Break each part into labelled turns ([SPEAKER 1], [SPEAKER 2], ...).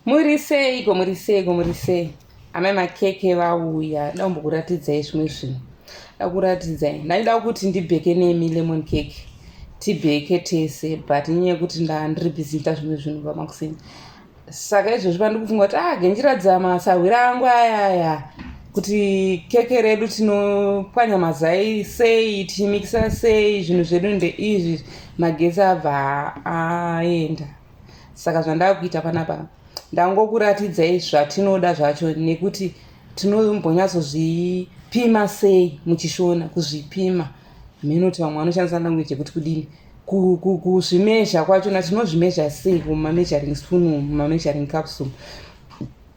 [SPEAKER 1] muri seiko muri seiko muri sei amai makeke vauya da kumbokuratidzai zvimwe zvinhu da kuratidzai ndaida kuti ndibheke nemi lemon cake tibheke tese but nyaya yekuti ndandiri busy ita zvimwe zvinhu vamakuseni saka izvozvi pandiri kufunga kuti ah genjiradza masahwira angu ayaya kuti keke redu tinopwanya mazai sei tichimikisa sei zvinhu zvedu ndeizvi magesi abva aenda ah, saka zvandakuita panapa ndangokuratidzai zvatinoda zvacho nekuti tinombonyatsozvipima sei muchishona kuzvipima minoti vamwe vanoshandisa language yekuti kudini kuzvimezha kwachona tinozvimezha sei kumameasuring spoon mumameasuring capsule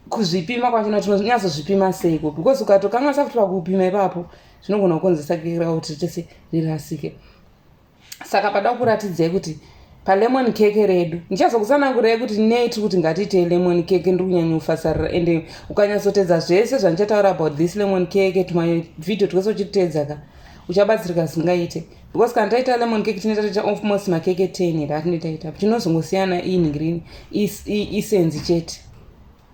[SPEAKER 1] kuzvipima kwachona tinonyatsozvipima seiko because ukatokanganisa kuti pakupima ipapo zvinogona kukonzesa kira kuti tese rirasike saka pada kuratidzei kuti palemon cake redu ndichazokutsanangurei kuti nei tiri kuti ngatiitei lemon cake ndiri kunyanyofasarira ende ukanyatsotedza zvese zvandichataura about this lemon cake tumavideo twese uchititeedza ka uchabatsirika zvingaite because kana taita lemon cake tinoita taita ofmost makeke ten here atinetaita tinozongosiyana inhingrini isenzi chete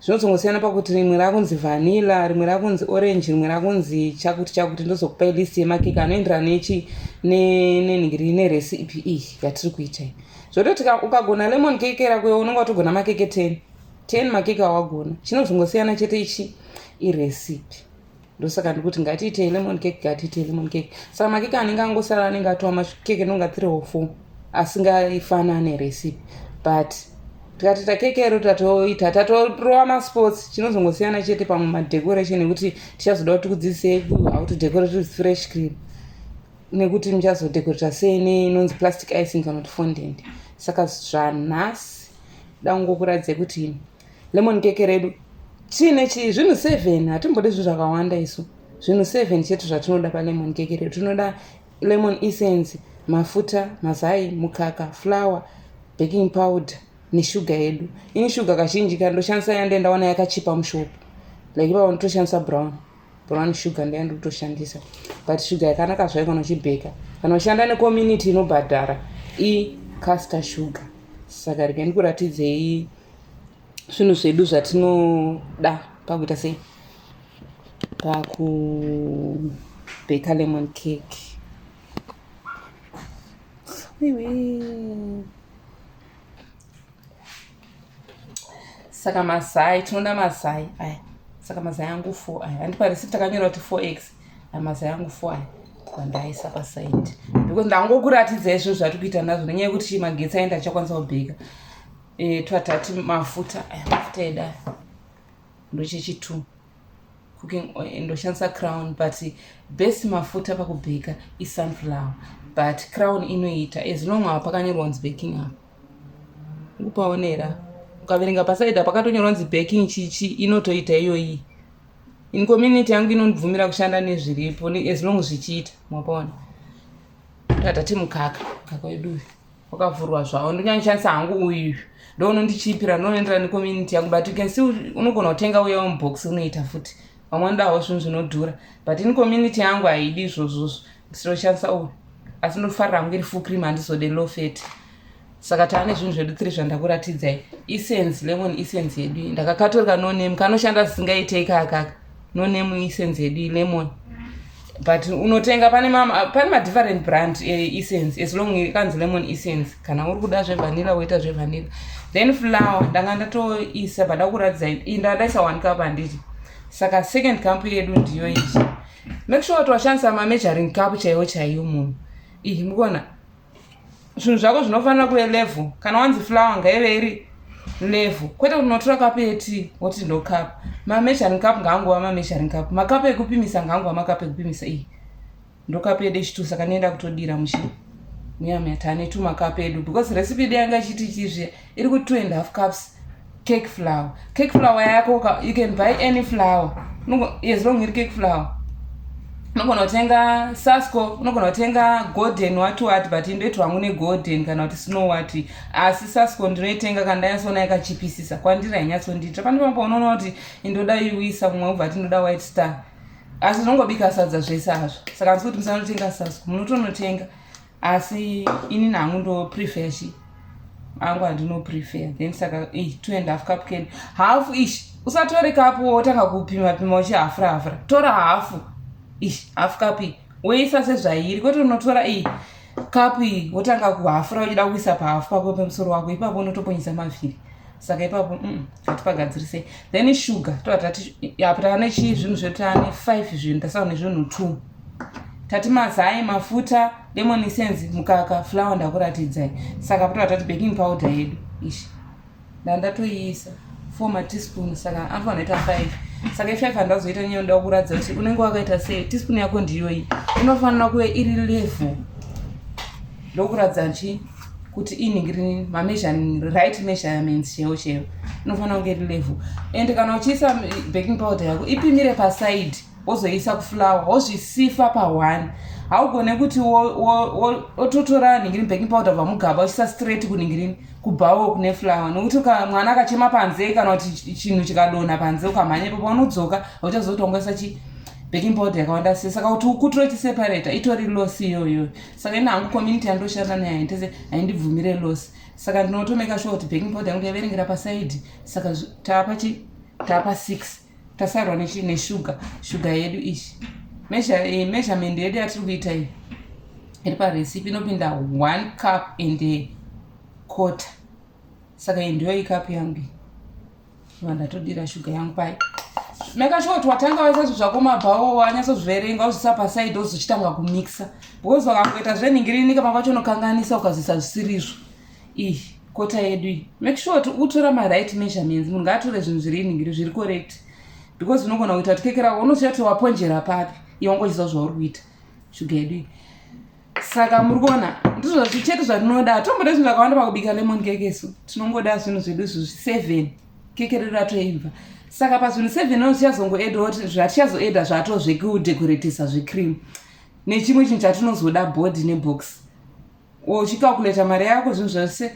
[SPEAKER 1] zvinozongosiyana pakuti rimwe rakunzi vanilla rimwe rakunzi orange rimwe rakunzi chakuti chakuti ndozokupai list yemakeke anoenderana nechi nenhingiri nerecipe iyi yatiri kuita iyi zvototi ukagona lemon keke rako iwe unenge watogona makeke ten ten makeke awagona chinozongosiyana chete ichi irecipe ndosaka ndiri kuti ngatiitei lemon cake ngatiitei lemon cake saka makeke anenge angosara anenge atova makeke anonga three or four asingaifanane recipe but tikatita keke iro tatoita tatorova masports chinozongosiyana chete pamwe madecoration ekuti tichazoda kuti tikudzidzisei how to decorate with fresh cream nekuti muchazodecorata sei neinonzi plastic icing kana kuti fondent saka zvanhasi dangokuradzai kuti Lemon keke redu chine chi zvinhu seven hatimbode zvinhu zvakawanda isu zvinhu seven chete zvatinoda palemon keke redu tinoda lemon essence mafuta mazai mukaka flour baking powder neshuga yedu ini shuga kazhinji ka ndoshandisa yande ndaona yakachipa mushopu like ipapo nditoshandisa brown brown sugar ndaya ndikutoshandisa but sugar yakanaka zvayo kana uchibheka kana ushanda necommunity inobhadhara icaster sugar saka rega ndikuratidzei zvinhu zvedu zvatinoda pakuita sei pakubheka lemon cake saka mazai tinoda mazai aya saka mazai angu four aya handipa receipt takanyora kuti four x aya mazai angu four aya kwandaisa pasaidi because ndangokuratidza izvo zvatiri kuita nazvo nenyaya yekuti magetsi aenda achakwanisa kubheka e, twatati mafuta aya mafuta eda ndochechi two cooking oil ndoshandisa crown but best mafuta pakubheka isunflower but crown inoita as long ava pakanyorwa kunzi baking apa ukupaonera ukaverenga pasaida pakatonyorwa kunzi baking chichi inotoita iyoyi in community yangu inondibvumira kushanda nezviripo as long zvichiita mwapaona tatati mukaka mukaka wedu uyu wakavhurwa zvavo ndonyanyishandisa hangu uyu ndoono ndichiipira ndinoenderana necommunity yangu but you can see unogona kutenga uya mubox unoita futi vamwe vanodawo zvinhu zvinodhura but in community yangu haidi izvozvozvo ndisitoshandisa uyu asi ndofarira hangu iri full cream handizode low fat saka taane zvinhu zvedu tiri zvandakuratidzai essence lemon essence yedu ndakakatorika noname kanoshanda zisingaitei kakaka no name isense yedu ilemon but unotenga pane pane madifferent brand eessence eh, as long ikanzi lemon essence kana uri kuda zvevanilla woita zvevanilla then flower ndanga ndatoisa bada kuratidza inda ndaisa one cup handiti saka second cup yedu ndiyo iyi make sure kuti washandisa mameasuring cup chaiwo chaiyo munhu iyi mukona zvinhu zvako zvinofanira kuve level kana wanzi flower ngaive iri level kwete kuti unotora kapu yeti woti ndo kapu mameasuring cup ngaangova mameasuring cup makapu ekupimisa ngaangova makapu ekupimisa iyi ndo kapu yedu echitu saka nienda kutodira muchi muyamuyatane tumakapu edu because recipe yedu yanga ichiti chizviya iri ku two and half cups cake flower cake flower yako you can buy any flower as long iri cake flower unogona kutenga sasco unogona kutenga golden wati wati but indoiti wangu negolden kana kuti snow wati asi sasco ndinoitenga kana ndanyatsoona yakachipisisa kwandiri hainyatsondiitira pane pamwe paunoona kuti indoda iwisa mumwe ubva ti ndoda white star asi zvinongobika sadza zvese hazvo saka ndisi kuti musanotenga sasco munotonotenga asi ini nangu ndo prefer shi angu handino prefer then saka eh, two and half cup can half ish usatore kapu wotanga kupima pima uchihafura hafura tora hafu ish half cup iyi woisa sezvairi kwete unotora iyi cup iyi wotanga kuhafura uchida kuisa pahafu pako pemusoro wako ipapo unotoponyisa mavhiri saka ipapo mm, hatipagadzirisei then sugar toatati apa tava nechii zvinhu zvedu tava nefive zvinhu tasava nezvinhu two tati mazai mafuta lemon essence mukaka flower ndakuratidzai saka patova tati baking powder yedu ishi ndandatoiisa four mateaspoon saka apa vanoita five saka ifive handazoita nyaya ndoda kuratidza kuti unenge wakaita sei teaspoon yako ndiyoyi inofanira kuve iri level ndokuratidza chi kuti inhingirini mameasuring right measurements cheo cheo inofanira kunge iri level and kana uchiisa baking powder yako ipimire paside wozoisa kuflower wozvisifa pahwani haugone kuti wototora ningirini baking powder kubva mugaba uchisa straight kuningirini kubhawo kune flower nokuti mwana akachema panze kana kuti chinhu chikadonha panze ukamhanya ipapo unodzoka hauchazoti wangoisa chi baking powder yakawanda se saka kuti ukutiro chiseparata itori loss iyoyo saka ini hangu community yandoshanda nayo haindese haindibvumire loss saka ndinotomeka sure kuti baking powder yangu ndaiverengera pasaidi saka taapachi taapa six tasarwa nechii neshuga shuga yedu izvi eh, measurement yedu yatiri kuita iyi iri parecipe inopinda one cup and a quarter saka iyi ndiyo ikapu yangu iyi va ndatodira shuga yangu pai make sure kuti watanga vasazvo zvako mabhawo wanyatsozviverenga ozvisa pasaidi ozochitanga kumixa because wakangoita zvenhingirinika pamwe pacho unokanganisa ukazoisa zvisirizvo ih kota yedu iyi make sure kuti utora maright measurements munhu ngaatore zvinhu zviri inhingiri zviri correct because unogona kuita kuti keke rako unoziva kuti waponjera papi iwe ungochiziva zvauri kuita shuga yedu iyi saka muri kuona ndizvo zvichete zvatinoda hatomboda zvinhu zvakawanda pakubika lemon kekesu tinongoda zvinhu zvedu izvo seven keke redu ratoimva saka pazvinhu seven o tichazongoedawo zvatichazoeda zvatozvekudekoretisa zvecream nechimwe chinhu chatinozoda body nebox uchicalculator mari yako zvinhu zvese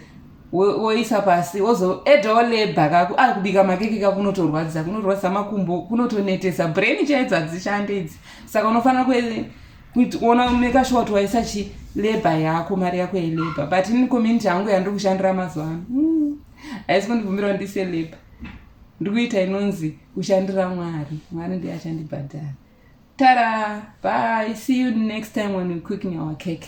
[SPEAKER 1] woisa pasi wozoedawo lebha kako a ah, kubika makeke ka kunotorwadzisa kunorwadzisa makumbo kunotonetesa brain chaidzo hadzishande idzi saka unofanira kuona meka shuwa kuti waisa chi lebha yako mari yako yelebha but ini community yangu yandiri kushandira mazuva ano hmm. haisi kundibvumirawo ndise lebha ndiri kuita inonzi kushandira mwari mwari ndiye achandibhadhara tara by see you next time when we cooking our cake